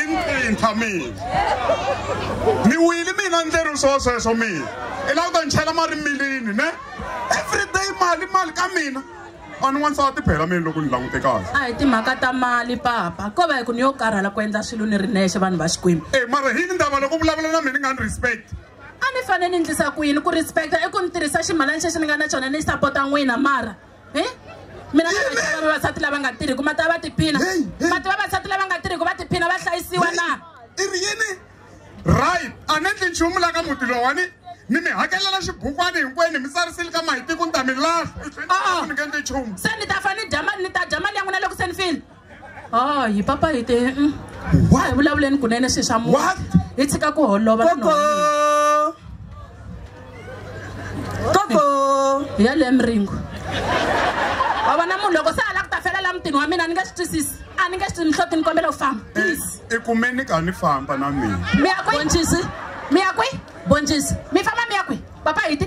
imprinta mina ni wili mina ndleri swo sweswo mina i lava ku ta ni chela mali milini ne everyday mali mali ka mina a ni wansati phela mina loko ni langute kahle a hi timhaka ta mali papa ko va hi ku ni yo karhala ku endla swilo ni ri nexe vanhu va xikwembu e mara hi ni ndava loko vulavula na mina ni nga ni respect a ni fanele ni endlisa ku yini ku respecta i ku ni tirhisa ximalani xexi ni nga na xona ni sapota n'wina mara eh? mina na vaxava vavasati lava nga tirhiku ma ta va tiphina ma ti vavasati lava nga tirhiku va tiphina va hlayisiwa na i ri yini right a ni endli nchumu la ka muti lowani ni mi hakelela xibukwani hinkwenu mi tsarisile ka mahitiku ni ta mi lahla ni nge endli nchumu se ni ta fane ni dya mali ni ta dya mali ya n'wina loko se ni file Oh, hi papa hi te mm. a hi vulavuleni kunene swi swa mu hi tshika ku holova koko hi ya le miringo wa vona munhu loko se a lava ku ta fela la mutini wa mina ni nge swi twisisi a ni nge swi nhloti ni kombela ku famba eh, please i kumeni ka ni famba na mina mi ya kwi bonjisi mi ya kwi bonjisi mi famba mi ya kwi papa hi ti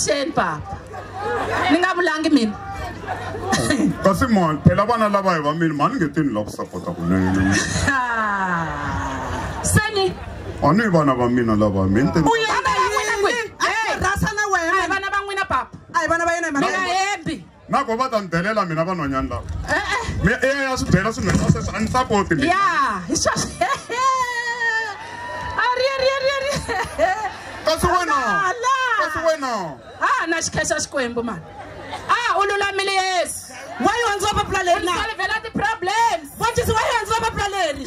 avuxeni papa ni nga vulangi mina kasi mani phela vana lava hi va mini mani nge tini la ku sapota kunene seni a ni vana va mina lava mini vana va n'wina papa a hi vana va yena hi mhaka na ko va ta ni delela mina vanhwanyani lava mi e ya swi byela swi nghena sweswi a ni sapoti mi ya hi swa kasi wena kasi wena a na xikhexa xikwembu mani a u lulamile yesu wa yi hundziwa papula leri na solvela ti-problems wa jesi wa yi hundziwa papula leri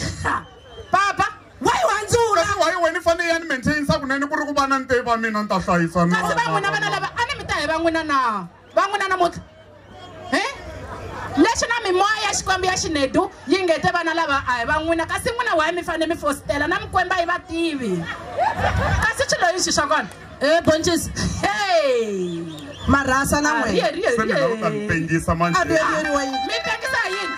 papa wa yi hundzula kasi wa yi wena i fanele ya ni maintainisa kunene ku ri ku vana ni te va mina ni ta hlayisa na kasi va n'wina vana lava a ni mi ta hi va n'wina na va n'wina namuntlha hi leswi na mimoya ya xikwembu ya xinedu yi ngete vana lava a hi va n'wina kasi n'wina waye mi fanele mi fositela na mikwemba yi va tivi kasi swi loyi swi swa kona e eh, boncisi hey marhasa na ah, n'wina mi tengisa yini